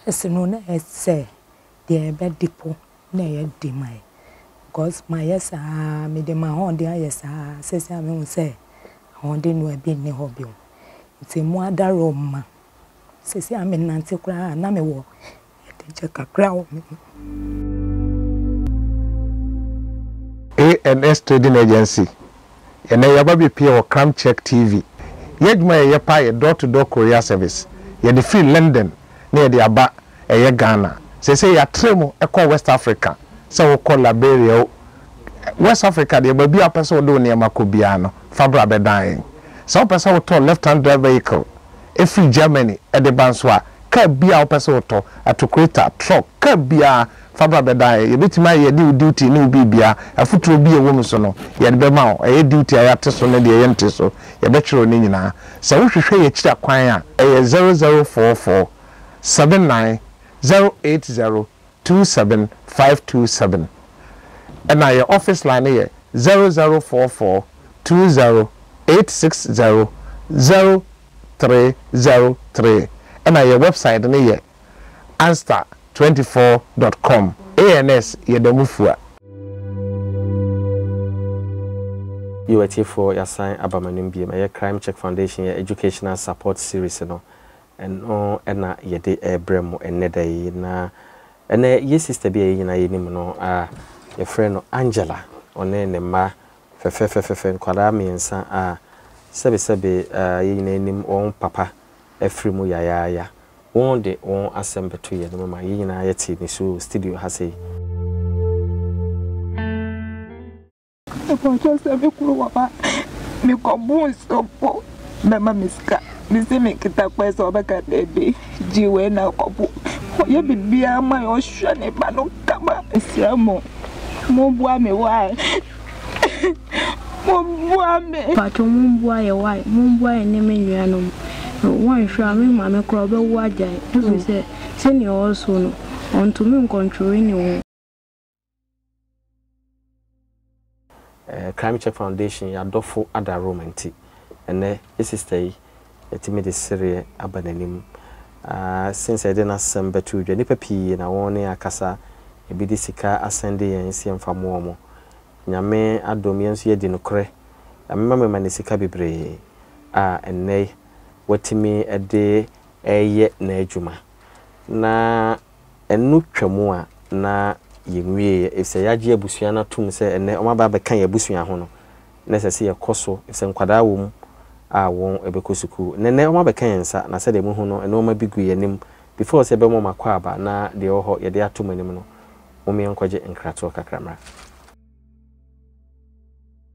First no na ɛyɛ sɛ deɛ yɛbɛde po na ɛyɛ de ma yɛn because mayɛ saa ara mede m'ahoɔden ayɛ saa ara seesei a mehu sɛ ahoɔden no ebi nni hɔ bio nti mo adaro mma seesei a menante koraa na mewɔ ɛdegyɛ kakra wɔ me mu. ANS Trading Agency Ɛnɛ yɛaba abɛpue wɔ Cram Check TV. Yɛn adwuma a yɛyɛ paa yɛ door to door courier service. Yɛde firi London na yɛde aba ɛyɛ Ghana. Seesei yɛatrɛ mu kɔ West Africa, sɛ wokɔ Liberia o, West Africa deɛ baabi a wopɛ sɛ wode wo nneɛma kɔ biara no, fa bra bɛdan yɛn. Sɛ wopɛ sɛ wotɔ left hand drive vehicle firi Germany de ba nso a, kaa biara a wopɛ sɛ wotɔ, atokureta, truck, kaa biara, Fa bra bɛdaeɛ. Yɛbɛtumi ayɛ yɛde wo duty ne wo biribiara. Afotuo bi a ɛwɔ mu so no, yɛde bɛma wo. Ɛyɛ duty a yɛate so ne deɛ yɛnte so. Yɛbɛkyerɛ wo ne nyinaa. Sɛ wohwehwɛ yɛn akyiri akwan a, ɛyɛ zero zero four four, seven nine zero eight zero two seven five two seven. Ɛna yɛn office line no yɛ zero zero four four, two zero eight six zero zero three zero three. Ɛna yɛn website no yɛ. Answer twenty four dot com ANS yɛda mu fua. Yo atiefoɔ yɛasan aba mo anim biom, ɛyɛ Crime Check Foundation yɛ Educational Support Series no, ɛno na yɛde rebrɛ mo ɛnnɛ da yi. Na ɛnnɛ yɛ sister bi a yɛn nyinaa yɛnim no a yɛfrɛ no Angela, ɔne ne mma fɛfɛɛfɛfɛfɛ, nkwadaa mmiɛnsa a sɛbesɛbe yɛn nyinaa nim wɔn papa, afiri mu yayaaya. Wo de wo asɛm bɛto yɛn mu ma yɛn nyinaa yɛte ne su wɔ studio ha sei. Mpakyɛw sɛ me kunu wɔ ba me kɔ buu nsuo po bɛma me sika me se me nketa kɔɛ sɛ ɔbɛka daabi gye wei na kɔ po ɔyɛ biribiaa ma yɛ ɔhwɛ ne ba no kama. Mesrɛ mo mo boa me why Momboa me. Mpakyɛw momboa yɛ why momboa yɛ ne me nua nom no wɔnhwɛ a me maame koraa ɔbɛwo agyae ɛfiri sɛ sɛnea ɔwɔ so no ɔntumi nkɔntwere ne ho. Crime Check Foundation yɛn adɔfo adarom nti ɛnnɛ sister yi Yɛatumi de sereɛ aba n'anim aa Sen sɛ yɛde n'asɛm bɛto dwa Nnipa pii na wɔne yɛn akasa Ebi de sika asɛnde yɛn sɛ yɛmfa mmoa wɔn Nyame adom yɛn nso yɛadi nokorɛ Nyame ma me ma ne sika bebree a ɛnnɛ yi Watumi de reyɛ n'adwuma Na Ɛno twam a na yɛnwieɛ efisɛ yɛagye abusua no atom sɛ ɛnnɛ wɔaba abɛka yɛn abusua ho no, na ɛsɛ sɛ yɛkɔ so efisɛ nkwadaa wɔ mu a wɔbɛkɔ sukuu. Nnɛnnɛ wɔabɛka yɛn nsa na sɛdeɛ mohu no nnoɔma bi gu yɛn anim. Before sɛ yɛbɛma wɔn akwaaba na deɛ ɛwɔ hɔ yɛde ato mo anim no, mom yɛnkɔgye nkratoɔ kakra mmra.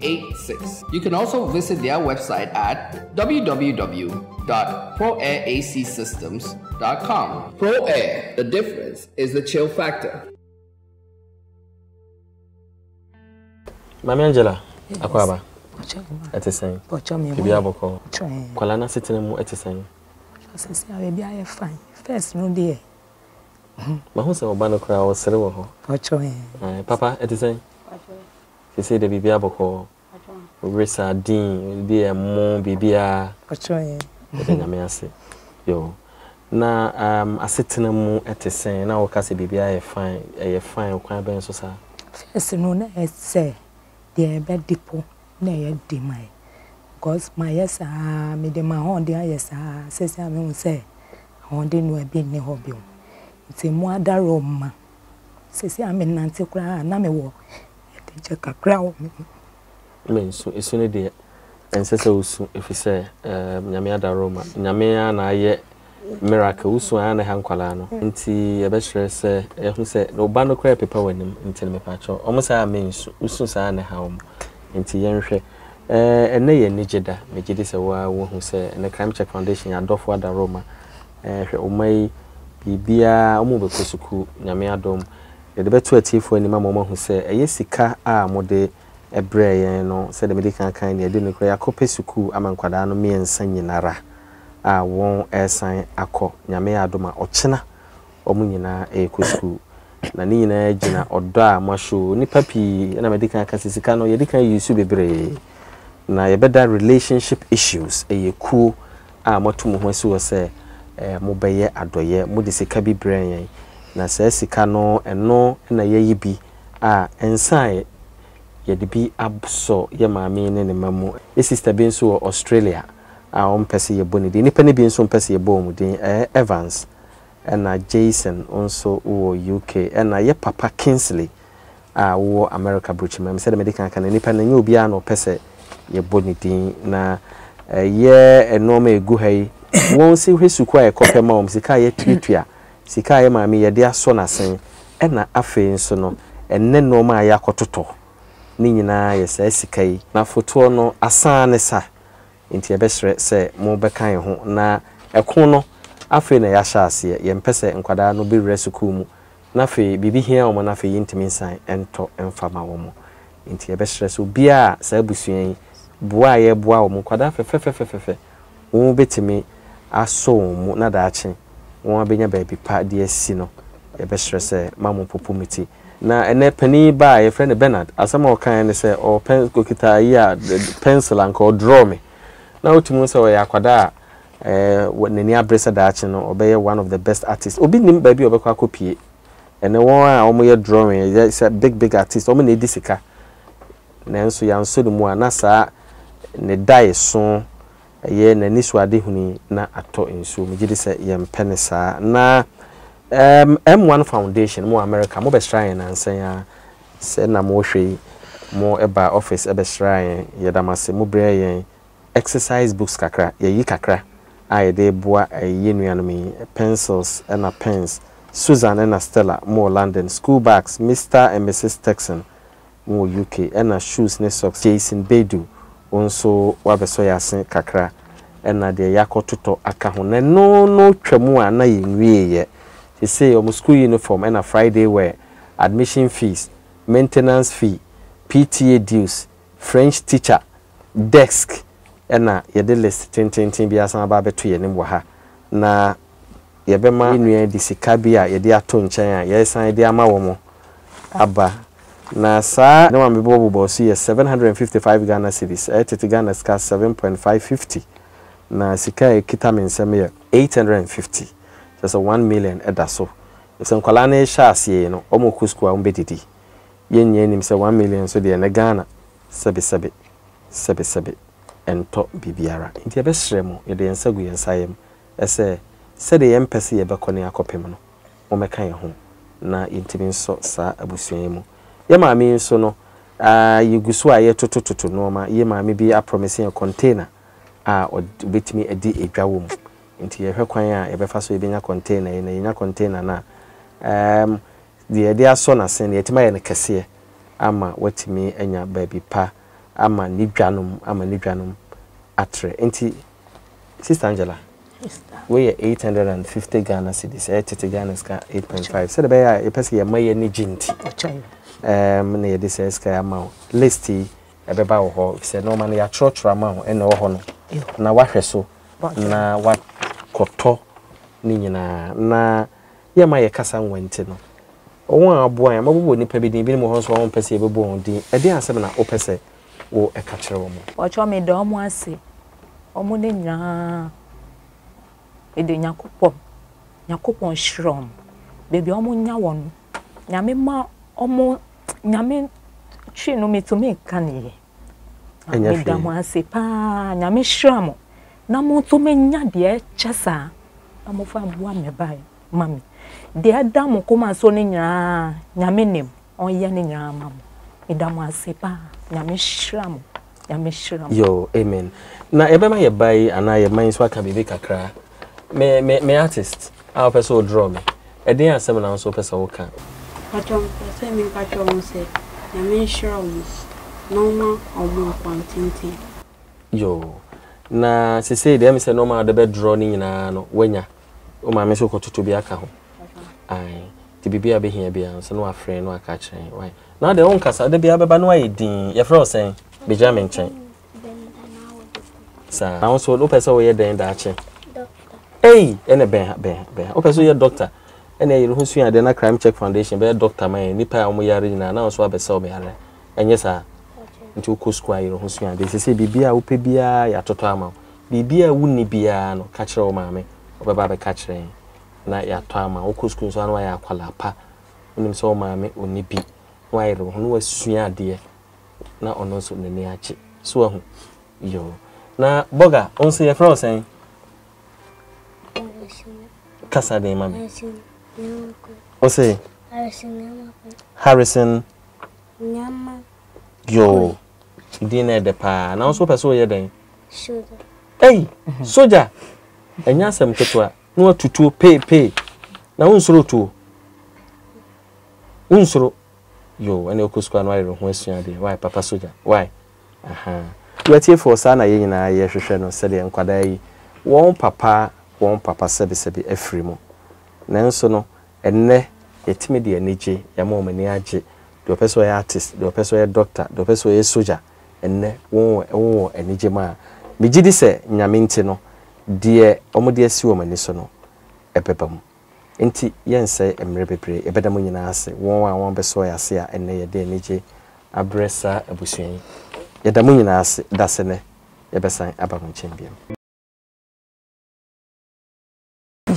86. You can also visit their website at www.proairacsystems.com. Pro Air, the difference is the chill factor. Mami Angela, akwaba. Ɛte sɛn? Ebi abɔkɔ. Kwala na setena mu ɛte sɛn? Sisi a ebi ayɛ fine. First no deɛ. Mahu sɛ ɔba no koraa ɔsere wɔ hɔ. Papa, ɛte sɛn? Sesei deɛ biribiara bɔkɔɔ. Wowere sardine, wodi ɛmo, biribiara. Ɔkyerɛ yɛn. Yɛda Nyame ase. Yoo. Na um asetena mu te sɛn? Na woka sɛ biribiara yɛ fine. Ɛyɛ fine ɔkwan bɛn so saa? First no, na ɛyɛ te sɛ deɛ yɛbɛde po na ɛyɛ den ma yɛn. Because mayɛ saa, mede m'ahoɔden ayɛ saa, seesei a mehu sɛ ahoɔden no a bi nni hɔ bio. Nti mmoa adaworo mma. Seesei a mennante koraa a, na mewɔ anigye kakra wɔ me ho. Mensu. Esu no deɛ, ɛnsɛ sɛ wosu efisɛ Nyame adaworo ma. Nyame ara na ayɛ miracle. Wosu a, ɛyɛ a na ɛha nkwadaa no. Nti yɛbɛsrɛ sɛ, yɛahu sɛ wo ba no koraa repepa w'anim nti no, mepakyɛ wo, wɔn saa a mensu. Wosu saa a na ɛha wɔn. Nti yɛnhwɛ. Ɛnnɛ yɛ anigye da. Megye di sɛ wo ara woahu sɛ ɛnnɛ Crime Check Foundation, yɛn adɔfo adaworoma, Ɛɛ hwɛ ɔma yi biribiara ɔmo bɛkɔ sukuu Nyame adom. Yɛde bɛto atiefoɔ anim ama ɔmo ahu sɛ ɛyɛ sika a mode brɛɛ yɛn no sɛdeɛ mede kan kae nea ɛdi no koraa yɛakɔ pɛ sukuu ama nkwadaa no mmiɛnsa nyinara a wɔn ɛɛsan akɔ Nyame adom a ɔkyena ɔmo nyinaa ɛɛkɔ sukuu na ne nyinaa gyina ɔdɔ a mo show nnipa pii ɛna mede kan ka sɛ sika no yɛde kan use bebree na yɛbɛda relationship issues ɛyɛ kuo a moatu mo ho asi hɔ sɛ mobɛyɛ adɔeɛ, mode sika bi brɛɛ yɛn, na saa sika no, ɛno na yɛayi bi a nsa a yɛde bi asɔ yɛn maame yi ne ne mma mu. Yɛn sista bi nso wɔ Australia a ɔmpɛ sɛ yɛbɔ ne din. Nnipa no bi nso mpɛ sɛ yɛbɔ wɔn din. Ɛɛ Evans? Ɛna Jason nso wɔ UK. Ɛna yɛ papa Kingsley a wowɔ America Brukyimamu. Sɛdeɛ mede kan ka no, nnipa no, ɛnyɛ obiara na ɔpɛ sɛ yɛbɔ ne din. Na ɛyɛ nnoɔma a ɛgu ha yi, wɔn se hwɛ sukuu a yɛkɔ pɛ ma wɔn, sika a yɛtuatua, sika a yɛ maame yɛde asɔ n'asen, ɛna afei nso no, ɛnnɛ nnoɔma a yɛakɔtotɔ, ne nyinaa yɛ saa sika yi. Na fotoɔ no, asaa ne sa. Enti yɛbɛsrɛ sɛ mo bɛka yɛn ho na ɛko no afei na yɛahyɛ aseɛ. Yɛmpɛ sɛ nkwadaa no bɛwura sukuu mu na afei biribi hia wɔn na afei yɛntumi nsan ntɔ mfa ma wɔn. Enti yɛbɛsrɛ sɛ obiara a saa abusua yi boa a yɛboa wɔn, nkwadaa fɛfɛfɛfɛfɛfɛ, wɔn bɛtumi asɔ wɔn mu na daakye wɔabɛnya baabi pa de asi no, yɛbɛsrɛ sɛ mma mompopo me ti. Na ɛnnɛ panin yi baa, yɛfrɛ no Bernard, asɛm a ɔkaeɛ ne sɛ ɔwɔ pɛn, ɔkita ayi a, pencil a anka ɔ draw me. Na wotumi hu sɛ ɔyɛ akwadaa a ɛɛ n'ani abere sɛ daakye no ɔbɛyɛ one of the best artists. Obi nnim baabi a ɔbɛkɔ akɔpue. Ɛnnɛ wɔn a wɔyɛ drawing yɛ sɛ big big artists, wɔn na ɛdi sika. Nanso yɛansɔ ne mu a na saa ne daeso Ɛyɛ n'anisoadehunu yi na atɔ nsuo. Megye di sɛ yɛmpɛ no saa. Na ɛɛm M1 Foundation, mo wɔ Amerika, mobɛsraa yɛn nnansa yi ara. Sɛ na morehwɛ yi, mobaa office bɛsraa yɛn. Yɛda mo ase. Mobrɛɛ yɛn exercise books kakra. Yɛayi kakra a yɛde reboa yɛn nuanom yi, pencils ɛna pens. Susan ɛna Stella, mowɔ London, school bags, Mister and Mrs Turkson, mu wɔ UK ɛna shoes ne socks Jason Bedu wo nso wabɛsɔ yɛn ase kakra ɛna deɛ yɛakɔ totɔ aka ho na ɛno no twa mu a na yɛn wie yɛ sesei wɔn school uniform ɛna Friday wear admission fees maintenance fee PTA dues French teacher desk ɛna yɛde list tententen bi asan aba abɛto yɛn anim wɔ ha na yɛbɛma yɛn nua yi de sika bi a yɛde ato nkyɛn a yɛresan de ama wɔn aba. Na saa nam a mebɔ bobɔɔ so yi yɛ seven hundred and fifty five Ghana cedis, ɛyɛ tete Ghana sika seven point five fifty. Na sika a ɛkita me nsam yɛ eight hundred and fifty, kyerɛ sɛ one million da so. Sɛ nkwadaa no rehyɛ aseɛ yi no, wɔkɔ sukuu a wɔbɛdidi. Yɛn nyinaa nim sɛ one million nso deɛ, ɛnnɛ Ghana, sɛbesɛbe, sɛbesɛbe, ɛntɔ biribiara. Nti yɛbɛsrɛ mo, yɛde yɛn nsa gu yɛn nsa yam Ɛsɛ sɛdeɛ yɛmpɛ sɛ yɛbɛkɔ ne akɔpem no, mommɛka yɛn ho na yɛntumi nsɔ saa abusua yi mu. Yɛn maame yi nso no, yɛgu so a yɛretotototo nnoɔma. Yɛn maame bi aprɔmese yɛn kɔntena a ɔbɛtumi adi dwa wɔ mu, nti yɛrehwɛ kwan a yɛbɛfa so a yɛbɛnya kɔntena yi, na yɛnya kɔntena no a, deɛ yɛde asɔ n'ase no, yɛatumi ayɛ no kɛseɛ ama watumi anya baabi pa ama ne dwanom, ama ne dwanom atrɛ. Nti. Sister Angela, wei yɛ eight hundred and fifty Ghana cedis, ɛyɛ tete Ghana sika eight point five. Sɛdeɛ ɛbɛyɛ a yɛpɛ sɛ yɛma yɛn ani gye nti, ɛɛm na yɛde saa sika yi ama wo. List yi ɛbɛba wɔ hɔ efisɛ nneɛma no yɛatwerɛtwerɛ ama wo ɛna ɛwɔ hɔ no na wahwɛ so na wakɔtɔ ne nyinaa na Yɛn ma yɛ kasa nwa nti no wɔn a aboa yɛn wɔbɛbɔ nnipa bi din ebinom wɔ hɔ nso a wɔn mpɛ sɛ yɛbɛbɔ wɔn din ɛdeɛn asɛm na wopɛ sɛ wo ɛka kyerɛ wɔn. Mpakyɛw me da ɔmo ase ɔmo ne nyinaa mede nyakopɔn nyakopɔn nhyira ɔmo baabi a ɔmo nya wɔ no nyame ma ɔmo nyame twi no me tumi nka ne yɛ. ɛnyɛ hwee. Meda mo ase paa, Nyame nhyira mo na mo nso menya deɛ ɛkyɛ saa na mofa mmoa me ba ma me. Deɛ ɛda mo koma so no nyinaa Nyame nim, ɔnyɛ ne nyinaa ma mo. Meda mo ase paa, Nyame nhyira mo, Nyame nhyira mo. Yo, amen. Na yɛbɛma yɛ ba yi anaa yɛ mma yi nso aka biribi kakra. Me, me, me artist a wopɛ sɛ wo draw me. Ɛdeɛn asɛm na wonso wopɛ sɛ woka? Mpakyɛw mepɛ sɛ meka kyerɛ wɔn sɛ Nyame nhyira wɔn na ɔmma wɔn akwan tenten. Yoo, na sesei deɛ ɛyɛ me sɛ nnoɔma a wode bɛdrɔ no nyinaa no woanya? Wo maame nso kɔtoto bi aka ho. Papa. Ae, nti biribi a wobɛhia biara nso na wafrɛ na waka akyerɛ yɛn. Wai? Now deɛ wonkasa, da biara bɛba na woayɛ dinn. Yɛfrɛ wo sɛn? Bɛgyina me nkyɛn. saa na nso wopɛ sɛ woyɛ dɛn daakye ei ɛna bɛn ha bɛn ha bɛn ha wopɛ sɛ woyɛ dɔkta ɛna yɛn ho sua adeɛ na crime check foundation bɛyɛ dɔkta ma yɛn nipa a wɔn yare nyinaa na nso abɛsɛ wɔn yare ɛnyɛ saa nti wokɔ sukuu a yɛn ho sua adeɛ sɛ sɛ biribi a wopɛ biara yɛatotɔ ama wo biribi a wonni biara no ka kyerɛ wo maame ɔbɛba abɛka kyerɛ yɛn na yɛatɔ ama wokɔ sukuu nso ano ayɛ akwalaa pa wonim sɛ wo maame ɔni bi na wayere wo ho na wasua adeɛ na ɔno nso n'ani agye so ahu yo na bɔga wo nso yɛfrɛ wo sɛn kasa den ma me wo se harrison yo din na ɛdɛ paa na wo nso wopɛ sɛ woyɛ dɛn ei soja ɛnyɛ asɛm ketewa na watutuo peepee na wonsoro tuo wonsoro Yoo ɛne wokɔ sukuu a na wayere woho asua adeɛ wai papa sogya wai ahaa Watiefɔɔ saa na yɛn nyinaa yɛ hwehwɛ no sɛdeɛ nkwadaa yi wɔn papa wɔn papa sɛbi sɛbi afiri mu nanso no ɛnnɛ yɛtumi de anigye yɛama wɔn ani agye deɛ ɔpɛ sɛ ɔyɛ artist deɛ ɔpɛ sɛ ɔyɛ doctor deɛ ɔpɛ sɛ ɔyɛ sogya ɛnnɛ wɔn wɔ wɔ anigye mu a megyedi sɛ Nyame nti no deɛ wɔde asi wɔn ani so no ɛbɛba mu. Enti yɛnsɛe mmere bebree, yɛbɛda mo nyinaa ase, wɔn a wɔabɛsoa yɛn ase a ɛnnɛ yɛde anigye abrɛ saa abusua yi. Yɛda mo nyinaa ase, da sɛ nnɛ yɛbɛsan aba mo nkyɛn bio.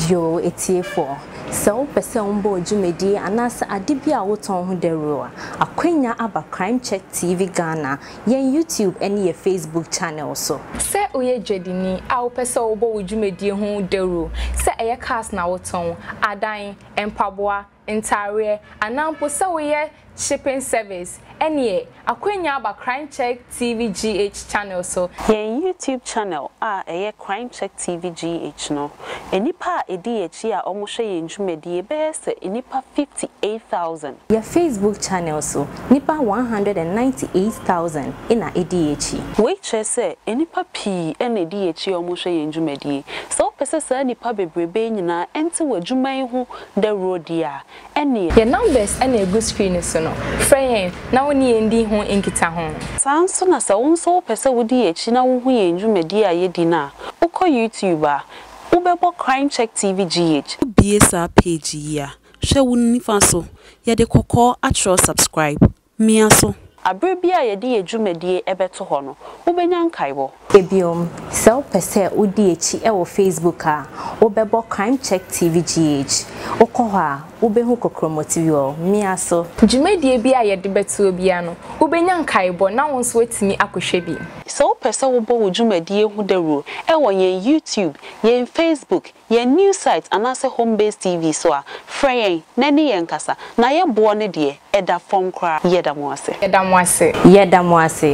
Yoo atiefoɔ, sɛ wopɛ sɛ wobɔ dwumadie anaasɛ ade bi a wotɔn ho dawuro a, akwanya aba Crime Check TV Ghana yɛn YouTube ne yɛn Facebook channel so. Sɛ woyɛ dwadini a wopɛ sɛ wobɔ wo dwumadie ho dawuro, sɛ ɛyɛ cars na wotɔn, adan, mpaboa, ntaareɛ, anaa mpo sɛ woyɛ shipping service, ɛneɛ akwanya aba Crimecheck TV GH channel so. Yɛn YouTube channel a ɛyɛ Crimecheck TV GH no, nnipa a ɛdi yɛn akyi a wɔhwɛ yɛn dwumadie bɛyɛ sɛ nnipa 58,000. Yɛ Facebook channel so, nnipa 198,000 na edi yɛn akyi. Wei kyerɛ sɛ nnipa pii na edi yɛn akyi a wɔhwɛ yɛn dwumadie. Sɛ wopɛ sɛ saa nnipa bebrebe yi nyinaa nte w'adwuma yi ho dawuro deɛ a, ɛnneɛ. Yɛn numbers na ɛgu screen no so no, frɛ yɛn na wo ne yɛn ndi ho nkitaho. Saa ara nso na sɛ wo nso wopɛ sɛ wodi yɛn akyi na wohu yɛn dwumadie a yɛdi no a, wokɔ YouTube a, wobɛbɔ Crimecheck TV GH. Wobue saa page yi a, Hwɛ wo nifa so, yɛde kɔkɔɔ atwerɛ subscribe. Mia so. Bere bi a yɛde yɛn dwumadie bɛto hɔ no, wobɛnya nkaebɔ. Bio, sɛ wopɛ sɛ wodi akyi wɔ Facebook a, wobɛbɔ Crime Check TV GH. Wokɔ hɔ a, wobɛhu Kokromotv. Mia so. Dwumadie biara a yɛde bɛtoɔ biara no, wobɛnya nkaebɔ na wo nso woatumi akɔhwɛ bi. Sɛ wopɛ sɛ wobɔ wo dwumadie ho dawuro wɔ yɛn YouTube, yɛn Facebook, Yɛn news site anaasɛ Home Base TV so a, frɛ yɛn na ɛne yɛn nkasa, na yɛ boɔ no deɛ ɛda fɔm koraa. Yɛda mo ase. Yɛda mo ase. Yɛda mo ase.